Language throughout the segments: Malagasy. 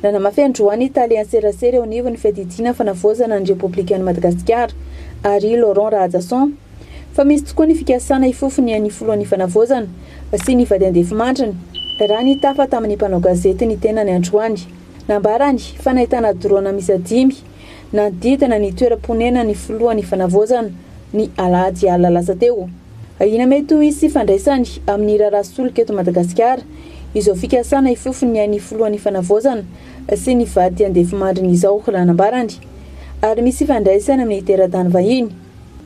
Nanamafy androany ny tale an-tserasera eo anivon'ny Fiadidiana Fanavaozana ny Repoblikan'i Madagasikara, Harry Laurent Rahajason, fa misy tokoa ny fikasana hifofo ny an'ny Filohan'ny Fanavaozana sy ny vady andefimandriny, raha nitafa tamin'ny mpanao gazety ny tenany androany. Nambarany fa nahitana drôna miisa dimy nanodidina ny toeram-ponenan'ny Filohan'ny Fanavaozana ny alahady alina lasa teo. Ahiana mety ho hisy ifandraisany amin'ny raharaha solika eto Madagasikara izao fikasana hifofo ny ain'ny filohan'ny Fanavaozana sy ny vady andefimandriny izao raha nambarany. Ary misy ifandraisany amin'ny teratany vahiny.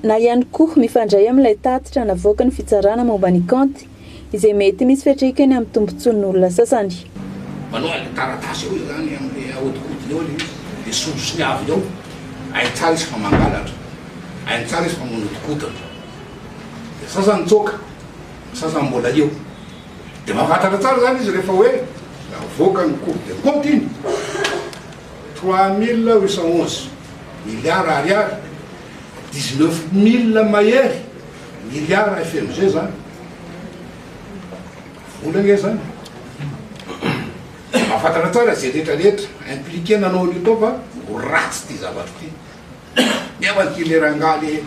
Na ihany koa mifandray amin'ilay tatitra navoakan'ny fitsarana momba ny kaonty izay mety misy fiantraikany amin'ny tombontsoan'olona sasany. Manao an'ilay taratasy eo izany amin'ilay ahodikodiny eo ilay izy. Dia sombisony avy eo. Hainy tsara izy fa mangalatra. Hainy tsara izy fa manodikodina. Dia sasany mitsoaka, ny sasany mbola eo. Dia mahafantatra tsara izany izy rehefa hoe navoaka ny cours de compte iny, trois mille huit cent onze milliards ariary, dix neuf mille mahery milliards FMG izany. Vola ange izany. Mahafantatra tsara izay rehetrarehetra impliqué nanao an'io tao fa ho ratsy ity zavatra ity. Nefa ty le rangahy le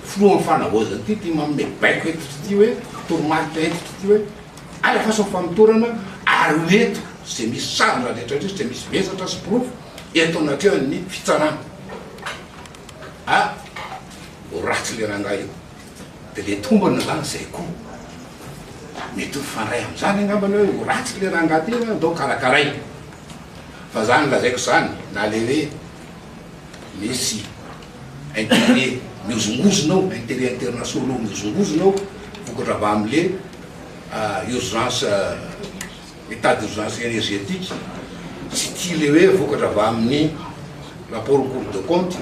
filoha am fanavaozana ty ty manome baiko hentitra ty hoe toromarika hentitra ty hoe alafasa ny famotorana ary ho eto ze misy sary ndra rehetra rehetra ze misy vesatra sy porofo eto anatrehany ny fitsarana a ho ratsy le rangahy io de le tombony zany zay ko mety ho fandray amzany angambany hoe ho ratsy le rangahy ty hoe andao karakaraina fa zany lazaiko zany na le hoe Merci. Intérêt mihozongozona ao, intérêt internationaux mihozongozona ao, vokatra avy amin'le urgence, état d'urgence énergétique, tsy tia le hoe vokatra avy amin'ny rapport au cours de compte,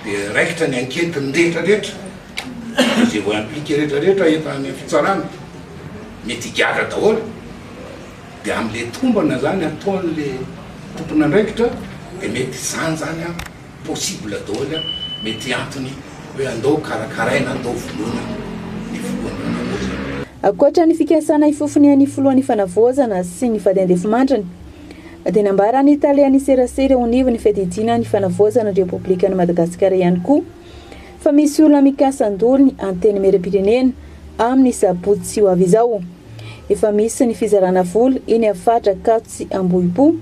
dia raikitra ny enquête-ny rehetrarehetra, izay voa-impliquer rehetrarehetra eto amin'ny fitsarana, mety higadra daholo. Dia amin'ilay tombana izany ataon'ilay tompon'andraikitra dia mety izany izany an, possible daholo an, mety antony hoe andao karakaraina, andao vonoina ny filohan'ny fanavaozana. Ankoatra ny fikasana hifofonian' ny filohan'ny fanavaozana sy ny vady andefimandriny, dia nambaran'ny tale an'ny serasera eo anivon'ny fiadidiana ny fanavaozana ny Repoblikan'i Madagasikara ihany koa, fa misy olona mikasa handoa ny Antenimierampirenena amin'ny sabotsy ho avy izao. Efa misy ny fizarana vola eny amin'ny faritra Ankatso sy Ambohipo,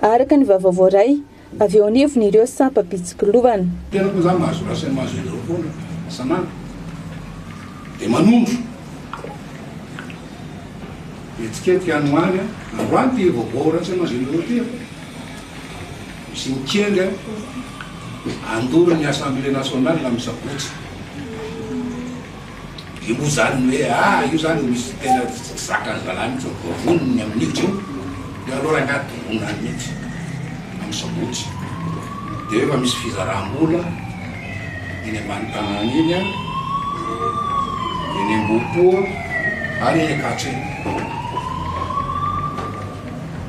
araka ny vaovao voaray avy eo anivon'ireo sampam-pitsikilovana. Tena moa izany mahazo raha sy mahazo heloka foana isan'andro dia manondro hetsiketsika any ho any. Androany ity vaovao ratsy aman-dreny ireo ity sy ny kianja andorin'ny Assemblée nationale amin'ny sabotsy. Dia moa izany ny hoe ah io izany no misy tena tsy zakan'zalahy mihitsy ny vavony ny amin'io dia dia aleo rangahy doroana any mihitsy amin'ny sabotsy. Dia efa misy fizaram-bola eny ambany tanàna eny an, eny Ambohipo ary eny Ankatso eny.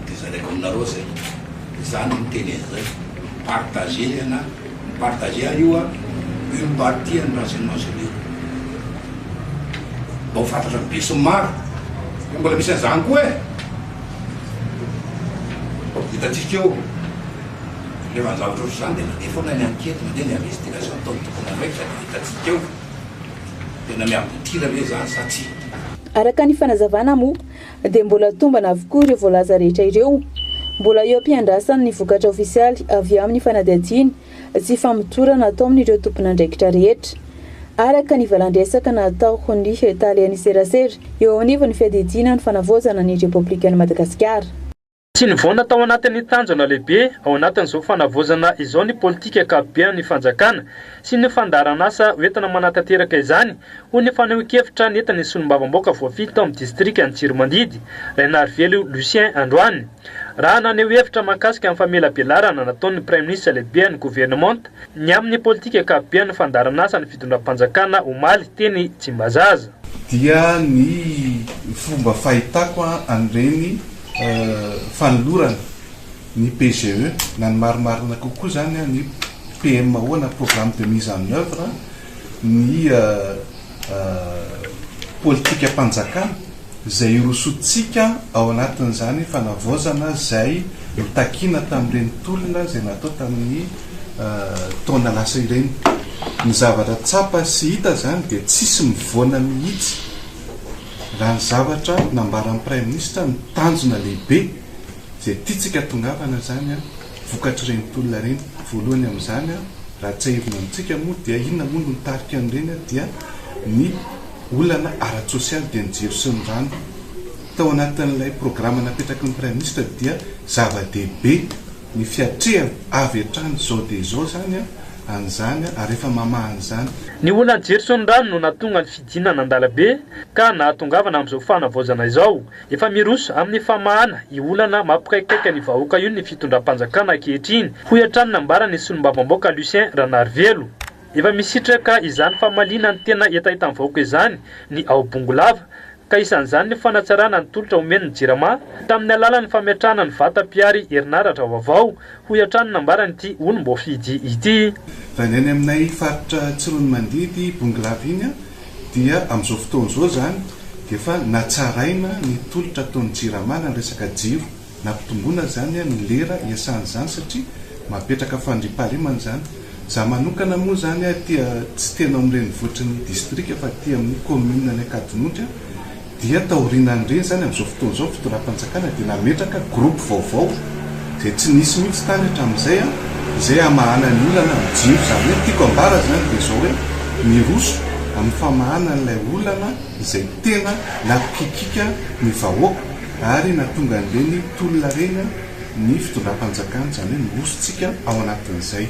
Dia zaraiko aminareo izay. Izaho no miteny an'izay. Partagez ny anà. Mi-partager ary io an, une partie an'ny renseignements généraux. Mba ho fantatran'ny be sy ny maro. Fa mbola misy an'izany koa e! Hitantsika eo. Rehefa ny zavatra ohatr'izany dia mandeha foana ny enquête, mandeha ny investigation ataon'ny tompon'andraikitra dia hitantsika eo. Tena mi-aboutir ve izany sa tsia. Araka ny fanazavana moa, dia mbola tombana avokoa ireo voalaza rehetra ireo. Mbola eo am-piandrasany ny vokatra ofisialy avy amin'ny fanadihadiana sy famotorana ataon'ireo tompon'andraikitra rehetra, araka ny valan-dresaka natao ny Talen'ny serasera eo anivon'ny Fiadidiana ny Fanavaozana ny Repoblikan'i Madagasikara. Tsy nivaona tao anatin'ny tanjona lehibe ao anatin'izao fanavaozana izao ny politika ankapoben'ny fanjakana sy ny fandaharanasa hoentina manatanteraka izany, hoy ny fanehoan-kevitra nentin'ny solombavambaoka voafidy tao amin'ny distrikan'i Tsiromandidy, Rainarivelo Lucien androany. Raha naneho hevitra mahakasika ny famelabelarana nataon'ny praiminisitra lehiben'ny governemanta ny amin'ny politika ankapoben'ny fandaharanasa ny fitondram-panjakana omaly teny Tsimbazaza, dia ny fomba fahitako an'ireny fanolorana ny PGE na ny marimarina kokoa izany ny PMO na programme de mise en oeuvre ny politikam-panjakana izay hirosoantsika ao anatin'izany fanavaozana izay notakina tamin'ireny tolona izay natao tamin'ny taona lasa ireny. Ny zavatra tsapa sy hita izany dia tsisy mivoana mihitsy raha ny zavatra nambaran'ny Praiminisitra ny tanjona lehibe izay tiantsika hatongavana izany vokatr'ireny tolona ireny. Voalohany amin'izany raha tsiahivina amintsika moa dia inona moa no nitarika an'ireny dia ny olana ara-tsosialy dia ny jiro sy ny rano tao anatin'ilay programa napetraky ny Praiminisitra dia zava-dehibe Ny fiatrehana avy hatrany izao dia izao izany an'izany ary efa mamaha an'izany. Ny olona Gerson Rano no nahatonga ny fidinana an-dalambe ka nahatongavana amin'izao fanavaozana izao. Efa miroso amin'ny famahana io olana mampikaikaika ny vahoaka io ny fitondram-panjakana ankehitriny, hoy hatrany nambaran'ny solombavambaoka Lucien Ranarivelo. Efa misitraka izany famaliana ny tena hetahetan'ny vahoaka izany ny ao Bongolava, ka isan'izany ny fanatsarana ny tolotra omen'ny Jirama tamin'ny alalan'ny fametrahana ny vata mpihary herinaratra vaovao, hoy hatrany ny nambaran'ity olom-boafidy ity. Raha ny any aminay faritra Tsiroanomandidy, Bongolava iny dia amin'izao fotoana izao izany dia efa natsaraina ny tolotra ataon'ny Jirama na ny resaka jiro. Nampitomboina izany ny lera iasana izany satria mapetraka fandriampahalemana izany. Izaho manokana moa izany aty tsy tena ao amin'ny renivohitry ny distrika fa aty amin'ny kaominina any Ankadinonitra dia taorinan'ireny izany amin'izao fotoana izao ny fitondram-panjakana dia nametraka groupe vaovao izay tsy nisy mihitsy tany hatramin'izay izay hamahana ny olana amin'ny jiro. Izany hoe ny tiako ambara izany dia izao hoe miroso amin'ny famahana an'ilay olana izay tena nampikikika ny vahoaka. ary nahatonga an'ireny tolona ireny ny fitondram-panjakana, izany hoe nirosontsika ao anatin'izay.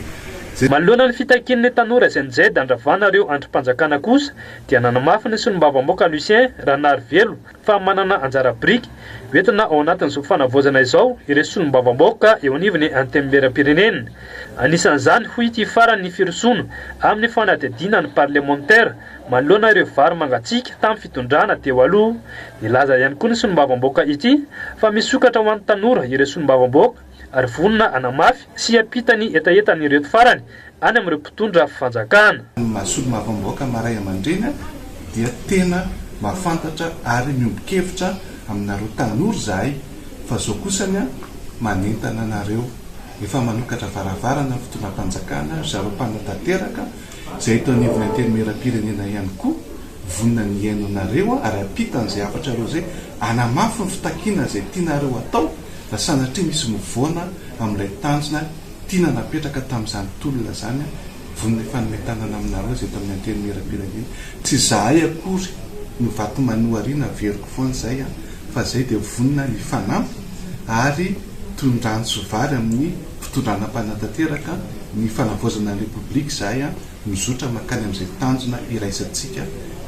Manoloana ny fitakian'ilay tanora izay nijeda handravana ireo andrim-panjakana kosa dia nanamafy ny solombavambaoka Lucien Ranarivelo fa manana anjara biriky hoentina ao anatin'izao fanavaozana izao ireo solombavambaoka eo anivon'ny Antenimierampirenena. Anisan'izany hoy ity farany ny firosoana amin'ny fanadihadiana ny parlemantera Manoloana ireo vary mangatsiaka tamin'ny fitondrana teo aloha, nilaza ihany koa ny solombavambaoka ity fa misokatra ho an'ny tanora ireo solombavambaoka ary vonona hanamafy sy hiampita ny hetahetan'ireto farany any amin'ireo mpitondra fanjakana. Ny maha solombavambaoka maha ray aman-dreny dia tena mahafantatra ary miombon-kevitra aminareo tanora izahay fa izao kosa ny manentana anareo. Efa manokatra varavarana ny fitondram-panjakana ry zareo mpanatanteraka Izay eto anivon'ny Antenimierampirenena ihany koa vonona ny hihaino anareo ary hampita an'izay hafatrareo izay, hanamafy ny fitakiana izay tianareo hatao raha sanatria misy mivoana amin'ilay tanjona tiana napetraka tamin'izany tolona izany, vonona hifanome tanana aminareo izay eto amin'ny Antenimierampirenena. Tsy izahay akory no vato manohariana averiko foana izay an, fa izay dia vonona hifanampy ary toy ny rano sy vary amin'ny. fitondrana mpanatanteraka ny fanavaozana ny Repoblika izay mizotra mankany amin'izay tanjona iraisantsika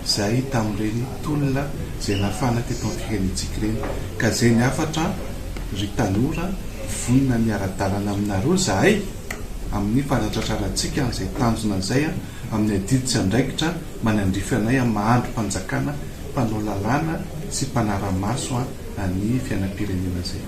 izay tamin'ireny tolona izay nafana teto amin'ny firenentsika ireny ka izay ny hafatra ry tanora vonona ny ara-dalana aminareo izahay amin'ny fanatratrarantsika an'izay tanjona izay amin'ny adidy sy andraikitra manandrify anay amin'ny maha-andrim-panjakana mpanao lalàna sy mpanara-maso ny fiainam-pirenena izay